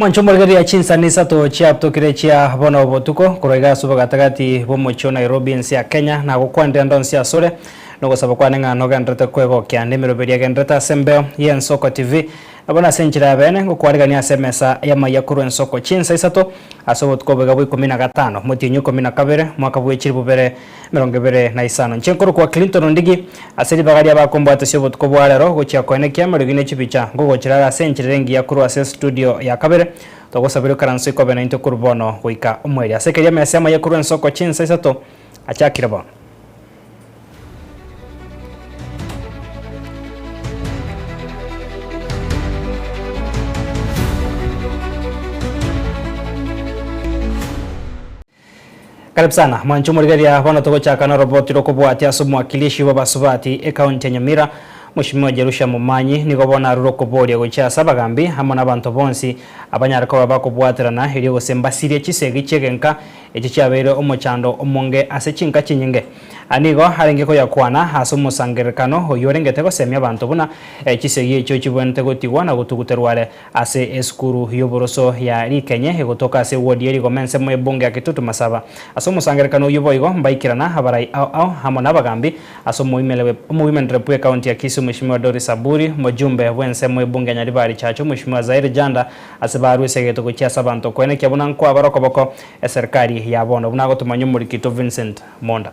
Mwancho morigereria chinsani isato chiatokire chia bono obotuko korwa iga ase obogatagati bw'omochie o Nairobi ense ya Kenya na gokwandia ndonsi asore nogosaba kwane ng'a nogenderete kwegokia nemeroberi agenderete ase embeo y'Ensoko TV nabo nase enchera ya bene ngokwarigania ase emesa y'amaiya korwa Ensoko chinsa isato ase obotuko boiga bwa ikomi na gatano motienyi ikomi na kabere mwaka bw'echiri bobere Emerongo ebere na isano. Inche nkorokwa Clinton Ndigi, ase ribaga ri'abakombwatisia obotuko bwa rero gochia koene kiamo rigini chibicha, ngogochirara ase enchiriri engiya korwa ase studio ya kabere. Togosabera ikaranso ikobe naintwe korwa bono goika omweeri. Ase keria mesa y'amaye korwa ensoko chinsa isato achakire bono. Karibu sana mwanche omorigeria, bono togochaka noroboti rokobwatia ase omwakilishi bw'abasubati ecounty ya Nyamira, Mweshimiwa Jerusha Momanyi, nigo bono arure okoboria gochia ase abagambi amo nabanto bonsi abanyare koba bakobwaterana erio gose mbasirie chisegi chi'egenka echi chiabeire omochando omonge ase chinka chinyinge. Aya nigo arenge koyakwana ase omosangererekano oyio orengete gosemia abanto buna chisegi echio chibwenerete gotigwa na gotuguterwa are Ase esukuru y'oboroso ya Rikenye egotoka ase ewodi ye rigoma ensemo y'ebunge ya Kitutu Masaba. Ase omosangerekano oyio boigo mbaikerana abarai ao ao amo nabagambi ase omoimere omoimerere bw'ekaunti ya Kisii Mweshimiwa Doris Aburi, omojumbe bw'ensemo y'ebunge ya Nyaribari Chache Omweshimiwa Zaire Janda ase barwe esegete gochia ase abanto koenekia buna nkoabara okoboko eserikari ya bono buna agotomanywa omorikito Vincent Monda.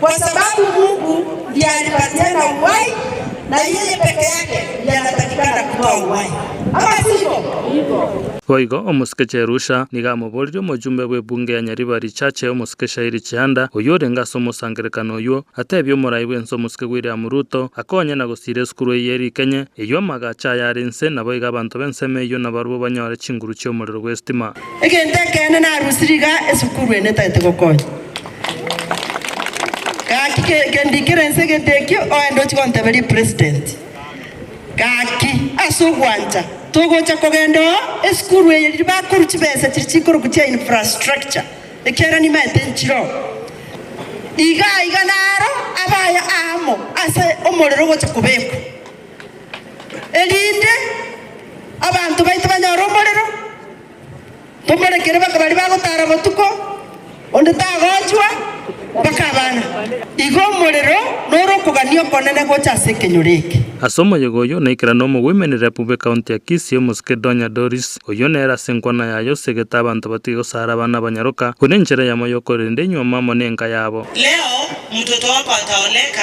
Kwa sababu Mungu ndiye alipatiana uhai, na yeye peke yake ndiye anatakikana kutoa uhai, ama sivyo? Boigo omosike Cherusha nigo amoborerie omochumbe bw'ebunge ya Nyariba richache omosike Shairi Chihanda, oyio orenge ase omosangerekano oyio, ateebie omorai bw'ense omosike William Ruto akonye na gosiira esukuru eyio ere ikenye, eyio amagacho aye are inse, naboigo abanto b'ensemo eyio nabarobwo banyore chinguru chi'omorero bw'esitima. Egento ekeene narusie rigaa esukuru ene etagete gokonya. Gaki ke kendikera ense egete ekio oende ochie gonteberia president. Gaki ase ogwancha togocha kogenda oo esukuru eye riria bakorwa chibesa chiria chikorokwa chia infrastructure ekiagera nimaete nchire oo. Igaa iga naro abaya amo ase omorero ogocha kobekwa. erinde abanto baito banyore omorero, tomorekere baka baria bagotara botuko, onde tagochwa, mpaka abana. Igo omorero nore okogania okonene gocha ase ekenyoro eke. Ase omoyega oyio naikire n'omogoimeni rep bwe county ya Kisii omosike Donya Doris. Oyio nere ase enkwana yaye osegete abanto batige gosara abana abanyaroka, buna enchera yamo yokorenda enyuoma amo nenka yabo. Leo mtoto wako ataoleka.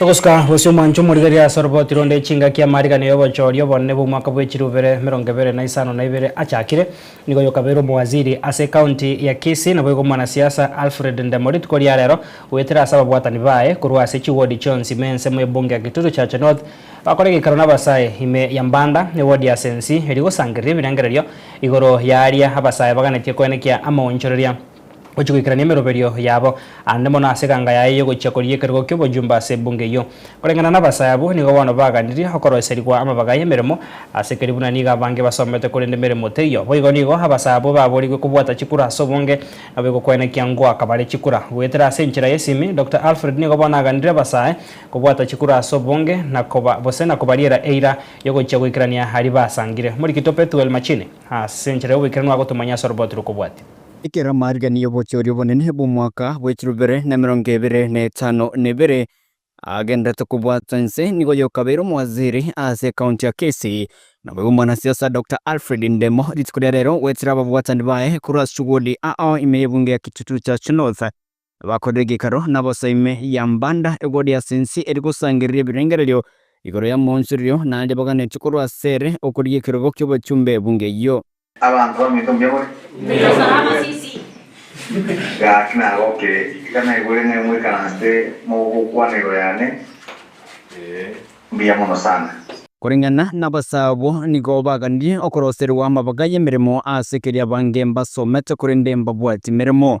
Togosuka gose omwancho omorigereria ase oroboti ronde chingaki amariganio y'obochoori obonene bw'omwaka bw'echirubere emerongo ebere na isano na ibere achakire. Nigo yokabeire omowaziri ase ekaunti ya Kisii naboigo omwanasiasa Alfred Ndemorit koria rero goetera ase ababwatani baye korwa ase chiwodi chionsi ime ense mu ebunge ya Kitutu Chache North bakore egeikaro nabasae ime ya Mbanda ewodi ase ensi eria gosangereria ebirengererio igoro y'aria abasae baganetie koenekia amaonchoreria gochia goikerania emeroberio yabo aande mono ase eganga yaye y'ogochia koria ekerogo ki'obojumba ase ebunge eyio. Koreng'ana nabasaya abwo, nigo bono baganirie okoroiserigwa amabaga y'emeremo, ase ekerio buna nigo abange basomete korende emeremo teiyo. Boigo nigo abasaya abwo baboorigwe kobwata chikura ase obonge, nabo egokwenekia ngoaka bare chikura. Goetera ase enchera y'esimi, Doctor Alfred nigo bono aganire abasaya kobwata chikura ase obonge na koba gose na kobariera eira y'ogochia goikerania aria basangire. Omorikito Pethuel Machine, ase enchera y'oboikeranu agotomanyia ase oroboti rw'okobwatia. Ekero amariga y'obochori obonene bw'omwaka bwe chirobere na emerongo ebere na etano na ebere agenderete kobwatwa inse, nigo yokabeire omowaziri ase ekaunti ya Kisii, naboigo omwanasiasa Doctor Alfred Ndemo rituko ria rero goetera ababwatani baye korwa ase chugodi ao ime y'ebunge ya Kitutu Church North. Bakorire egekaro na bosa ime ya mbanda egori ase ense ere gosangereria ebirengererio igoro y'amaonchorerio, naende baganetie korwa ase ere okorigia ekerogo ki'obachumbe bunge eyio. Abanto bamanyete omuya bore? Gaki nagokire, ekanaigure ng'ai moikaranse mogokwanirwa yane mbuya mono sana. Koreng'ana nabasae abwo, nigo baganirie okoroserigwa amabaga y'emeremo ase keria abange mbasomete korende mbabwati meremo.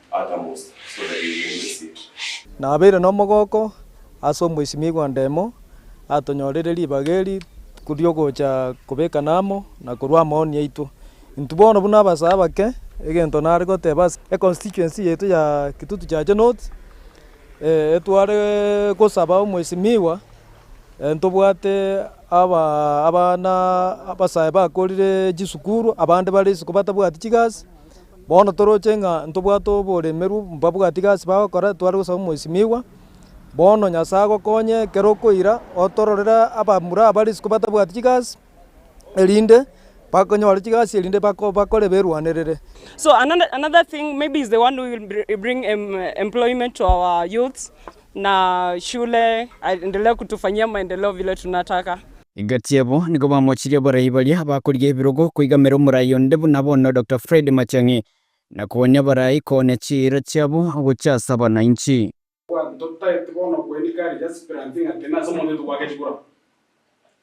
Nabeire nomogooko ase omoisimigwa Ndemo, atonyorire ribaga eri riogocha kobekana amo na korua amaoni aito. Intwe bono buna abasaa abake, egento nare goteba ase econstituency yaito ya Kitutu Chache North, etware gosaba omoisimigwa ntobwate abana abasae bakorire chisukuru abande bare isiko batabwati chigasi. Bono toroche ng'a ntobwate oboremerwu mbabwatie gasi bagokora, tware gosaba omoisimigwa. Bono Nyasae agokonye ekero okoira otororere abamura aba risuko batabwati chigasi, erinde bakonyore chigasi erinde bakore eberwanerere. na shule aendelee kutufanyia maendeleo vile tunataka. Gati abo nigo bamochirie abarai baria bakorigia ebirogo koigamera omorai onde buna bono Dokta Fred Matiang'i, na kowania abarai koonia chiira chiabo gochia ase abananchi. Totagete bono koenia kare Jasper Antinga Kena ase omonto oito gwagechigura.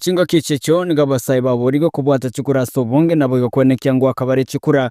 Chingaki echi'echio nigo abasae baborigwe kobwata chikura ase obonge, naboigo kwenekia ngoaka bare chikura,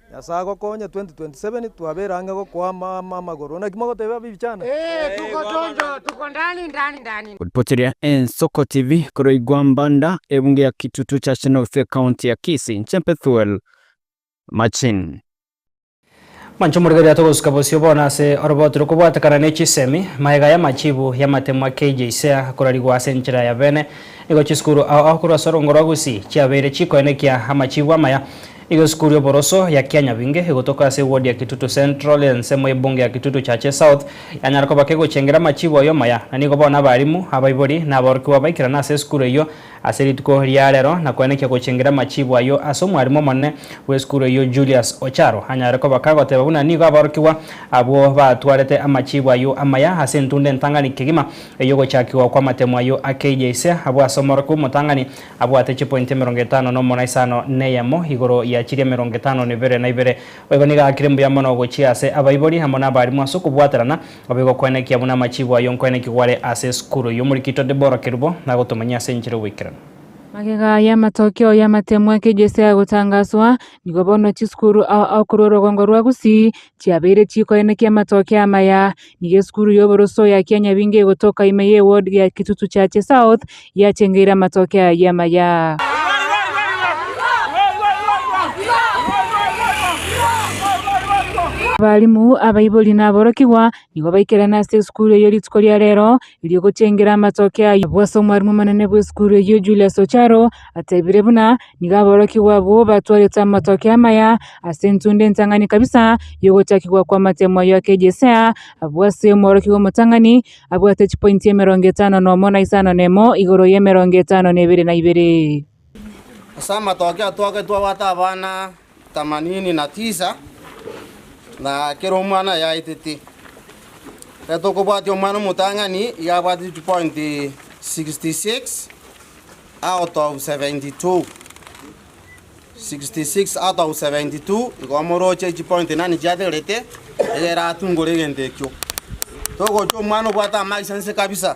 Nyasae agokonye 2027 twabere ang'e gokoama amagoro. Naki mogoteba ab'ebichana? Ee, togotonto, togondani ndani ndani. Gotipocheria Ensoko TV korwa igwa Mbanda, ebunge ya Kitutu Church North, County ya Kisii. Inche Pethuel Machin. Mancho morigereria atogosika bosio bono ase oroboti rokobwatekana ne chisemi, maega y'amachibu y'amatemwa keijeisea akorarigwa ase enchera ya bene. Nigo chisukuru ao ao korwa ase orongoro rwa Gusii chiabeire chikoenekia amachibu amaya. Nigo esukuru y'oboroso ya Kianyabinge egotoka ase ewodi ya Kitutu Central, ensemo y'ebunge ya Kitutu Chache South, yanyara koba kegochengera amachiibo aye omaya. Na nigo bono abarimu, abaibori, na aborokigwa baikerana ase esukuru eyio ase rituko ria rero na koenekia gochengera amachiibo ayio ase omwarimu omonene bw'esukuru eyio Julius Ocharo anyare koba kagoteba buna nigo aborokigwa abwo batwarete amachiibo ayio amaya ase entunda entang'ani kegima ey'ogochakigwa kw'amatemo ayio a KJSEA abwo ase omorokigwa omotang'ani Abwate chipointi emerongo etano nomo na isano neyemo igoro ya chiria emerongo etano nebere na ibere. Boigo nigo agakire mbuya mono gochia ase abaibori amo nabarimu ase okobwaterana obe gokwenekigwa buna amachiibo aye onkwenekigwa are ase esukuru y'Omorikito Debora Kerubo nagotomanyia ase enchera y'oboikeranu. Magega aya amatokeo y'amatemwa ake Jese agotangaswa, nigo bono chisukuru ao akorwa orogongo rwa Gusii chiabeire chikoenekia amatokeo amaya. Nigo esukuru y'oboroso ya Kianyabinga egotoka ime ye ward ya Kitutu Chache South yachengeire amatoke aya y'amaya. Abalimu, abaibori na aborokigwa nigo baikerane ase esukuru eyio rituko ria rero erio gochengera amatoke ayio. Nabwo ase omwarimu omonene bw'esukuru eyio Julius Ocharo Ateebire buna nigo aborokigwa abwo batwarete amatoke amaya ase entunda entang'ani kabisa y'ogochakigwa kw'amatemo ayio ake Jesea, abwo ase omworokigwa omotang'ani abwate chipointi emerongo etano na omo na isano na emo igoro y'emerongo etano na ebere na ibere. Ase amatoke atwagetwe abwate abana themanini na tisa, na kera omwana aye aetete. Ekero tokobwatia omwana omotang'ani, igo abwatete chipointi sixty six out of seventy two. Sixty six out of seventy two, igo omoroche chipointi nani chiategerete, nigo eratungore egento ekio. Togochia omwana obwate amaiso nse kabisa,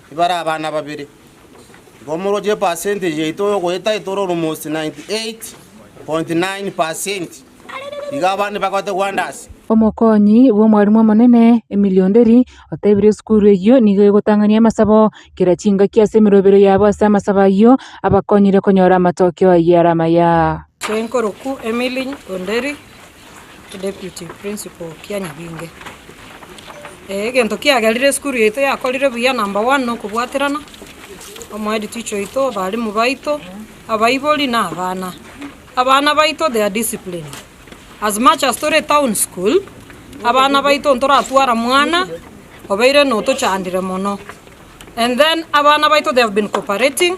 Ibare abana babere. Igo moroche epercentage yaito y'ogoeta etore almost 98.9 per cent. Iga abande bagoete wonders. Omokonyi bw'omwarimu omonene, Emilio Nderi, otebire esukuru eyio nigo egotang'ania amasabo kera chingaki ase emerobero yabo ase amasabo ayio abakonyire konyora amatokeo ayio are amaya. Senkorokwo Emily Onderi Deputy Principal kia Nyabinge. Egento kiagerire esukuru yaito yakorire buya number one na okobwaterana, omohead teacher oito, abalimu baito, abaibori na abana. Abana baito they are disciplined. As much as tore town school, abana baito ntoratwara mwana obeire notochandire mono. And then abana baito they have been cooperating,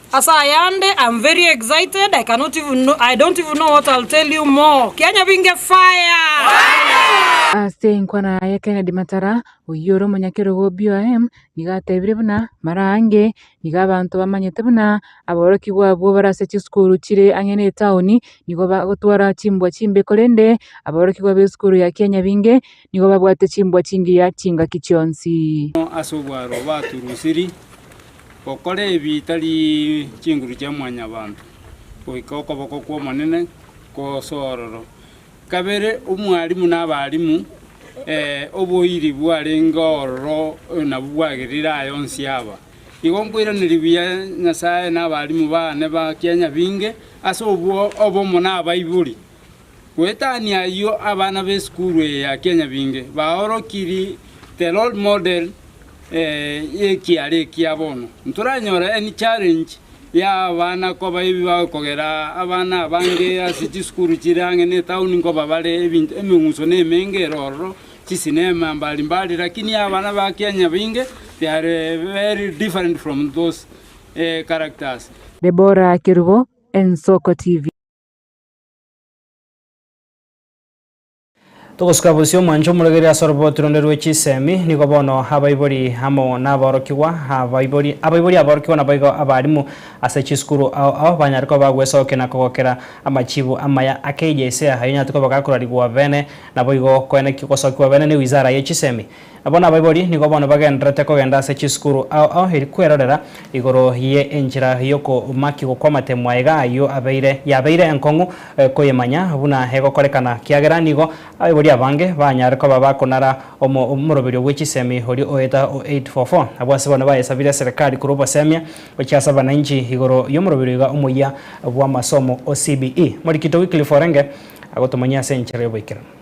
Ase ayande I'm very excited I cannot even know I don't even know what I'll tell you more Kianya binge fire. Ase enkwana ya Kennedy Matara, oyio ore omonyakerogo o BOM, nigo atebire buna mara ange nigo abanto bamanyete buna aborokigwa abwo bare ase chisukuru chire ang'e ne etaoni nigo bagotwara chimbwa chimbe korende aborokigwa b'esukuru ya Kianya binge Nigo babwate chimbwa chingiya chingaki chionsi. Amo ase obwaro baturusiri, gokora ebi tari chinguru chia mwanyabanto, goika okoboko kw'Omonene kosororo. Kabere omwarimu na abarimu, ee, oboiri bwarenge ororo nabwo bwagerire aya onsi aba. Igo nkoiraneria buya Nyasae na abarimu baane ba kianya binge ase obwo obomo nabaibori. Goetania ayio abana b'esukuru eye ya kianyabinge baorokiri The Role Model y'ekiara ekia bono. Ntoranyore any challenge ya abana koba ebi bagokogera abana abange ase chisukuru chire ang'e ne etauni nkoba bare ebinto emeng'uso na emenge ere ororo, chisinema mbari mbari lakini ya abana ba kianyabinge they are very different from those characters. Deborah Kerubo, Ensoko TV. Togosuka bosio omwanche omorogeri ase oroboti ronde rwe chisemi, nigo bono abaibori amo naborokigwa, abaibori abaibori aborokigwa naboigo abarimu ase chisukuru ao ao banyare koba bagwesokia na kogokera amachibu amaya akeija ise ayonyarete koba gakorarigwa bene, naboigo koenekio gosokiwa bene ne wizara ye chisemi. Abwo nabaibori nigo bono bagendererete kogenda ase chisukuru ao ao eri kwerorera igoro ye enchera y'okomakigwa kw'amatemwa aiga ayio abeire yabeire enkong'u koyemanya buna egokorekana kiagera nigo abaibori abange banyare koba bakonara omo omoroberio bwe chisemi oria oeta o 844 abwo ase bono bayesabire serekari korwa obosemia gochia ase abananchi igoro y'omoroberio iga omoyia bw'amasomo o CBE Morikito Wycliffe Orenge agotomanyia ase enchera y'oboikeranu.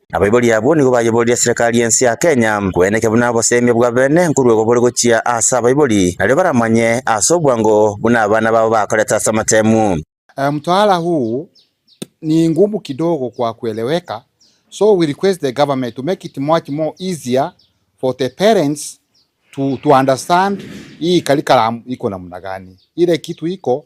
Abaibori abwo nigo bayeboririe Serekari y'ense ya Kenya kweneke buna oboseemia bwa beene nkorwa igo bore gochia ase abaibori, nario baramanye ase obwango buna abana babo bakorete ase amatemu. Eeh mtwala huu ni ngumu kidogo kwa kueleweka so we request the government to make it much more easier for the parents to to understand hii curriculum iko namna gani ile kitu iko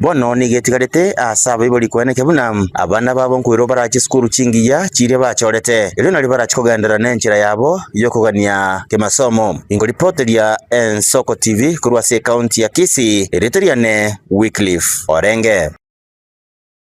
Bono nigo etigarete aase abaibori koenekia buna abana babo nkoirwa barache esukuru chingiya chiria bachorete, erio nari barache kogenderera nenchera yabo y'okogania kemasomo. Inkoripoteria Ensoko TV korwa ase ekaunti ya Kisii, erieta riane Wycliffe Orenge.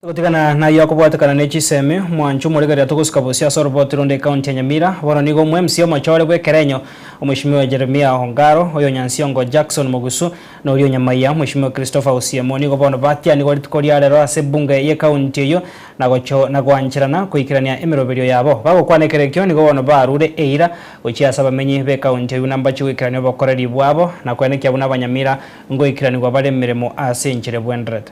Gotigana nayio akobwatekana ne chisemi, mwancho omorigereria togosika bosio ase oroboti ronde ekaunti ya Nyamira, bono nigo omwemsia omochore bw'ekerenyo, Omweshimiwa Jeremia Ongaro, oy'Onyansiongo Jackson Mogusu, na oria o Nyamaiya, Mweshimiwa Christopher Osiemo, nigo bono batianigwe rituko ria rero ase ebunge y'ekaunti eyio na gocho na goancherana koikerania emeroberio yabo. Bagokwana ekerekio, nigo bono barure eira gochia ase abamenyi b'ekaunti eyio buna mbache goikerania obokoreri bwabo na koenekia buna Abanyamira ngoikiranigwa bare emeremo ase enchera ebwenderete.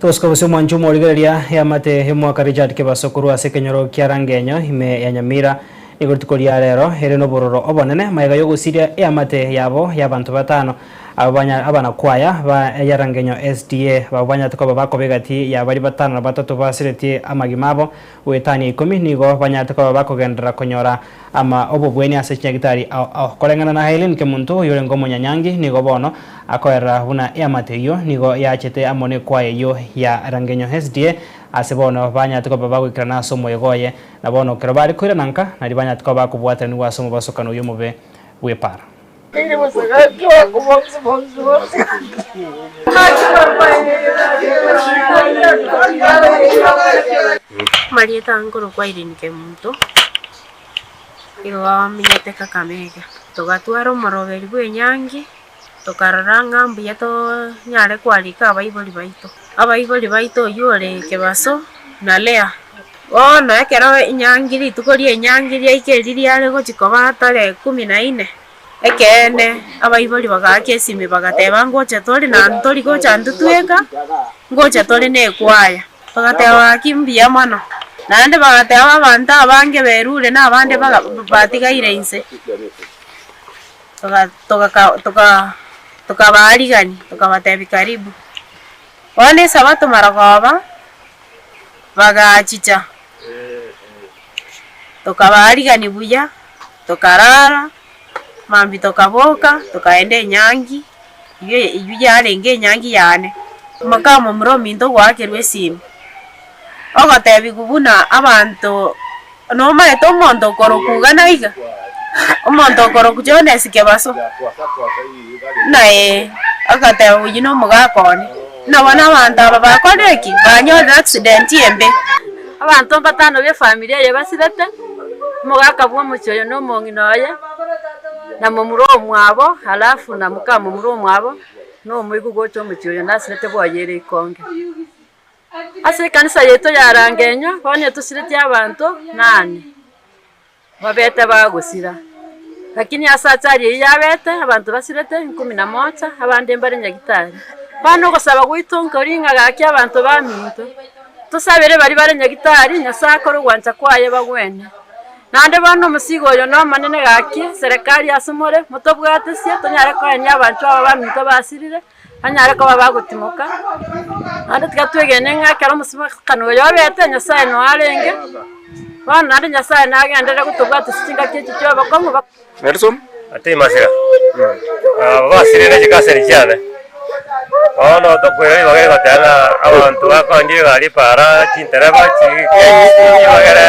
Tosika gose omwancho omorigereria y'amate y'omwaka Richard Kebaso korwa ase ekenyoro kia Rangenyo ime ya Nyamira. Nigo rituko ria rero ere nobororo obonene magega y'ogosiria eamate yabo y'abanto batano aba banya abanakwaya ba ya Rangenyo SDA. Abwo banyarete koba bakoba egati ya baria batano na batato basiretie amagima abo Goetania ikomi nigo banyarete koba bakogenderera konyora ama obobwenia ase chinyagitari ao ao. Koreng'ana na Aileen Kemunto oyorenge omonyanyangi nigo bono akoerera buna eamate eyio nigo yaachete amo nekwaya eyio ya Rangenyo SDA ase bono banyarete koba bagoikerana ase omoyega oye na bono ekero bare koirana nka nari banyarete koba bakobwatanigwa ase omobasokano oyio omobe bw'epara. Marieta nkorokwa Irene Kemunto, nigo bamenyete Kakamega. Togatwara omoroberi bw'enyangi, tokarora ng'a mbuya tonyare kwarika abaibori baito. Abaibori baito oyio ore Kebaso na Leah. Bono ekero enyangi rituko ri'enyangi riaika erio riare gochia koba tarehe kumi na ine, ekeene abaibori bagaaka esimi bagateba, Ngocha tore naende tori gocha intwe tweka, ngocha tore nekwaya. Bagateba, Gaki mbuya mono. Naende bagateba abanto abange berure na abande baga batigaire inse, toga- togaka toka tokabaarigania tokabatebi karibu. Bono esabato mara goba. bagachicha, tokabaarigani buya, tokarara, mambia tokaboka, tokaenda enyangi, eyio eyio yarenge enyangi yane. Mokamomura ominto ogoakerwa esimi, ogotebiwa buna abanto Nomaete omonto okorokwa iga na iga, omonto okorokwa Jones Kebaso, buna ee, agateba oyio na omogaka one, buna bono abanto aba bakorire ki? Banyorire accident embe. Abanto mbatano b'efamiri eye basirete, omogaka bw'omochie oyo na omong'ina oye, na momura omwabo, alafu na mokamomura omwabo, na omoigwa gocha omochie oyo nasirete bwoye ere ikonge. Ase ekanisa yaito ya Rangenywa onye tosireti abanto nane babete bagosira, lakini ase achari eyio yabete abanto basirete ikumi na moja abande mbare Nyagetari. Bono ogosaba gwaito nkoria ng'a gaki abanto baminto tosabere baria bare Nyagetari Nyasaye akore ogwancha kwaye bagwene. Naende bono omosigo oyo nomonene gaki serikali ase more motobwatesie tonyare koenia abanto aba baminto basirire Banyare koba bagotimoka, naende tiga twegene ng'a ekero omosamakano oyo obete, Nyasae noyo arenge, bono naende Nyasae nagenderere gotobwatisia chingaki echi chi'obokong'u bo. Ati masira aba basirire chikaseri chiane. Bono tokoira ribaga rigoteba ng'a abanto bakoorire egari para, chintereba, chigenyi, chibagere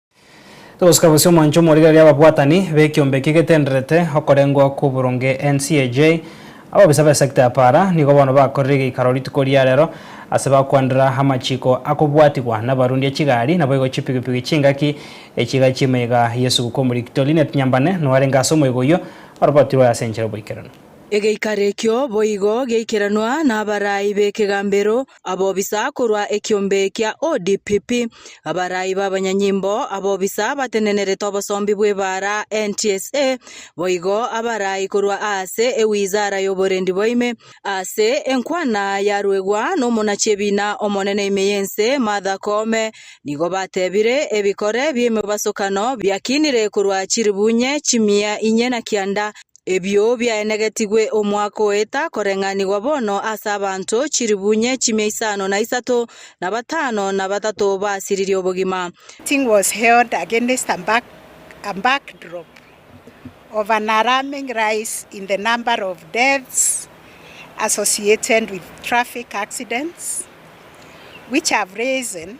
Obosika bosio omwancho omorigereria ababwatani b'ekiombe ekia egetenderete okorengwa kw'oboronge NCAJ, ababisa b'esekta ya Para nigo bono bakorire egeikaro rituko ria rero ase bakwanera amachiiko akobwatigwa n'abarundi a chigari naboigo chipigipigi chingaki echiga chi'emaiga y'esuguku omoriri Kitoli Net Nyambane noyo arenge ase omoiga oyio orobatirwe ase enchera oboikeranu. Egeikaro ekio boigo geikeranwa n'abarai b'ekegambero abobisa korwa ekiombe kia ODPP, abarai b'abanyanyimbo, abobisa abatenenerete obosombi bw'ebaara, NTSA, boigo abarai korwa aase ewizara y'oborendi bwaime. Aase enkwana yaruegwa n'omonachiebina omonene ime y'ense Martha Koome nigo batebire ebikore bi'emebasokano biakinire korwa chiribunye chimia inye na kianda Ebio biaenegetigwe omwaka oeta koreng'anigwa bono ase abanto chilifu inye chimia isano na isato, na batano na batato baasiririe obogima. Meeting was held against a backdrop of an alarming rise in the number of deaths associated with traffic accidents, which have risen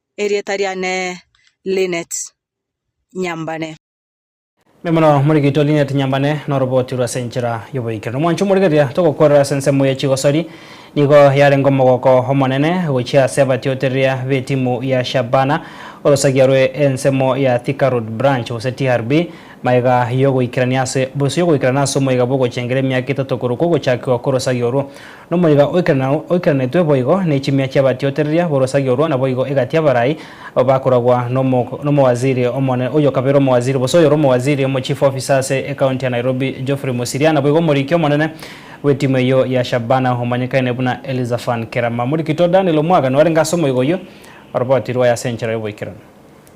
Erieta riane Lynnet Nyambane. Mbuya mono morigeitwe Lynnet Nyambane na oroboti rw'ase enchera y'oboikeranu. Omwancho omorigereria togokwerora ase ensemo ye chigosori nigo yarenge omogoko omonene gochia ase abatiotereria b'etimu ya Shabana orosagia rwe ensemo ya Thika Road Branch gose TRB magega y'ogoikerania ase boiso y'ogoikerana ase omoiga bw'ogochengera emiaka etato korokwo ogochakiwa kw'orosagia orwo Nomoika oikaranetwe boigo ne chimia chi'abatiotereria b'orosagia orwo, naboigo egati y'abarai aba bakoragwa nomowaziri omonene, oyokabere omowaziri, gose oyore omowaziri, omochief officer ase ecounty ya Nairobi, Geoffrey Musiria, naboigo omoriki omonene bw'etimu eyio ya Shabana omanyekaine buna Elizaphan Kerama. Moriki Todd Daniel Omwaga nwarenge ase omoika oyio, oroboti rwaye ase enchera y'oboikeranu.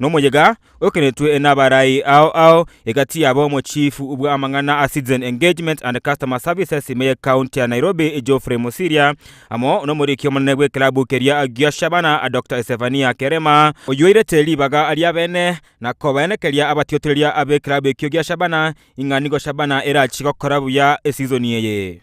Nomoyega oekeretwe nabarai ao ao egati yabo mochifu bw'amang'ana a Citizen Engagement and Customer Services ime ye County ya Nairobi Geoffrey Musiria amo nomoriki omonene bw'ekelabu keria gia Shabana Doctor Esefania Kerema oyoirete ribaga ri'abene na kobaenekeria abatiotoreria ab'ekelabu ekio gia Shabana ing'a nigo Shabana erachie gokora buya esizoni eye.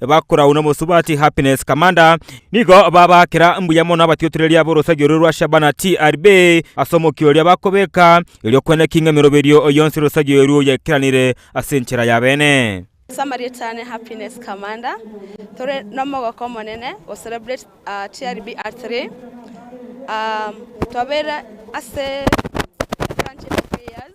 bakorau nomosubati Happiness Kamanda, nigo babaakera mbuya mono abatiotoreria b'orosario rore rwa Shabana TRB ase omokio oria bakobeka, erio kwene king'a emeroberio yonsi y'orosario erwo yaikeranire ase enchera y'abeene. Ase amarieta aane Happiness Kamanda, tore nomogoko omonene go celebrate TRB Art Day. Twabeire ase Friendship of Three Years.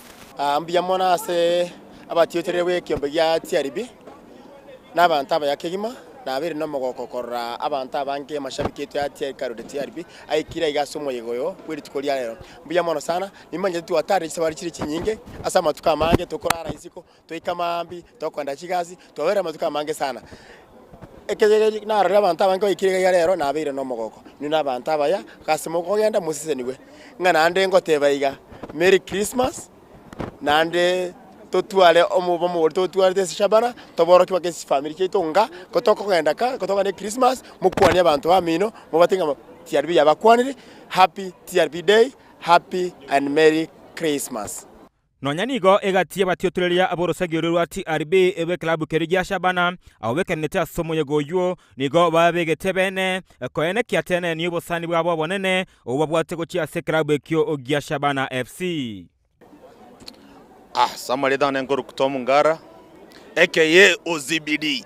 Aa mbuya mono ase abatiochereria b'ekiombe gia chiaribi, na abanto abaya kegima, na abeire nomogooko korora abanto abange amashabiki aito ya chiaikaro ria chiaribi aikire aiga ase omoyega oyo bwe rituko ria rero. Mbuya mono sana, nimanchete twatarire chisabari chire chinyinge ase amatuko amange tokorara isiko. twaika mambia tokoenda chigasi, twaberire amatuko amange sana. Ekegegeri narorire abanto abange baikire iga rero nabeire na omogoko, inwe na abanto abaya, gose mokogenda mosisenigwe. Ng'a naende ngoteba iga, Merry Christmas, naende totware omobe omogori totwarete esishabara, toborokie mpaka esifamiri chiaito ng'a kotokogenda kaa, kotokogenda ekrismasi, mokwanie abanto bamino, mobwate ng'a TRB yabakwanire, happy TRB day, happy and merry Christmas. Nonya nigo egati y'abatiotoreria ab'orosagia rwe rwa TRB rw'ekelabu keria gia Shabana abo bekeranete ase omoyega oyio nigo babegete ebeene koenekia tenenia obosani bwabo obonene obwo babwate gochia ase ekelabu ekio gia Shabana FC. Samaritan enkoruku Tom Ngara aka Ye Ozibidi.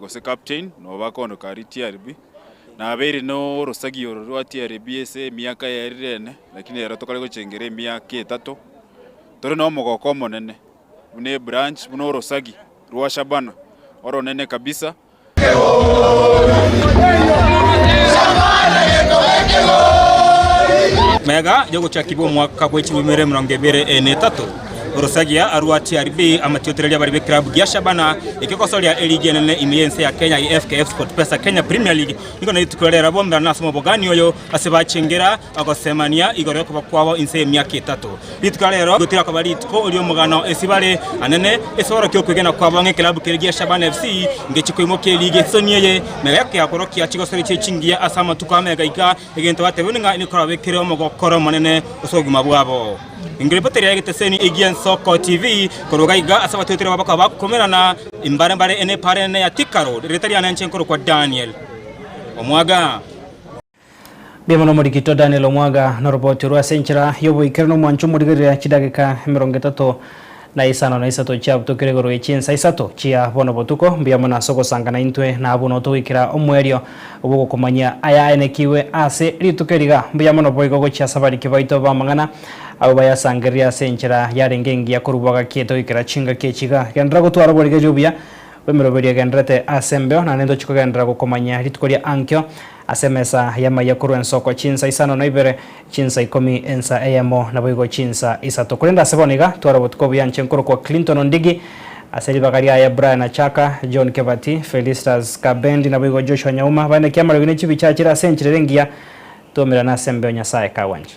gose captain noba kondo kari TRB nabeire norosagi oro rwa TRB ase emiaka yaerirene lakini ero tokare gochengera emiaka etato tore na omogoko omonene buna ebranch buna orosagi rwa Shabana oronene kabisa Mega yogochakigwa omwaka bwechirwe ebiere emerongo ebere e netato. Orosagia arwa TRB amatiotereri abare be club gia Shabana ekegosoria eligi enene ime y'ense ya Kenya ye FKF Sportpesa Kenya Premier League nigo na rituko riria rirabombera nase omobogani oyo ase bachengera ogosemania igoro yokoba kwabo inse y'emiaka etato. Rituko ria rero nigo tirakoba rituko ri'omogano ase bare anene esoro ki'okwegena kwabo ng'a ekelab kere gia Shabana FC ngechia koimokia eligi esisoni eye. Mega ya keakorokia chigosori chie chingiya ase amatuko amega iga Egento batebiwe nigo nikoraba ekere omogokoro omonene gose obogima bwabo. Ingo ripoteri ya egeteseni egia Nsoko TV korwa iga iga ase abatwetere babo bakaba bakomerana imbare mbare ene epaara enene ya Thika Road. Erieta riane inche nkorokwa Daniel Omwaga. Mbuya mono Omorikito Daniel Omwaga, noroboti orwo ase enchera y'oboikire nomwancho omorigerere chidageka emerongo etato. Na isano na isato chiabutokire igoro ye chinsa isato chia bono botuko, mbuya mono ase ogosanga naintwe, na abwo notogoikera omwerio bw'ogokomanyia aya aenekigwe ase rituko eri iga. Mbuya mono boigo gochia ase abariki baito b'amang'ana, abwo bayasangereria ase enchera yarenge engiya korwa bwagaki etogoikera chingaki echi iga. Genderera gotwara oborigereria obuya bw'emeroberi egendererete ase embeo, naende ntoche kogenderera gokomanyia rituko ria ankio ase emesa y'amaiya korwa ensoko chinsa isano na ibere, Chinsa ikomi ensa eyemo, naboigo chinsa isato. Korende ase bono iga tware obotuko obuya inche nkorokwa Clinton Ondigi, ase ribaga riaye Brian Achaka, John Kebati, Felistas Kabendi, naboigo Joshua Nyauma, bainaki amarogi ne chibicha achire ase enchera ere engiya, twaumerane asembeo Nyasaye kagwanche.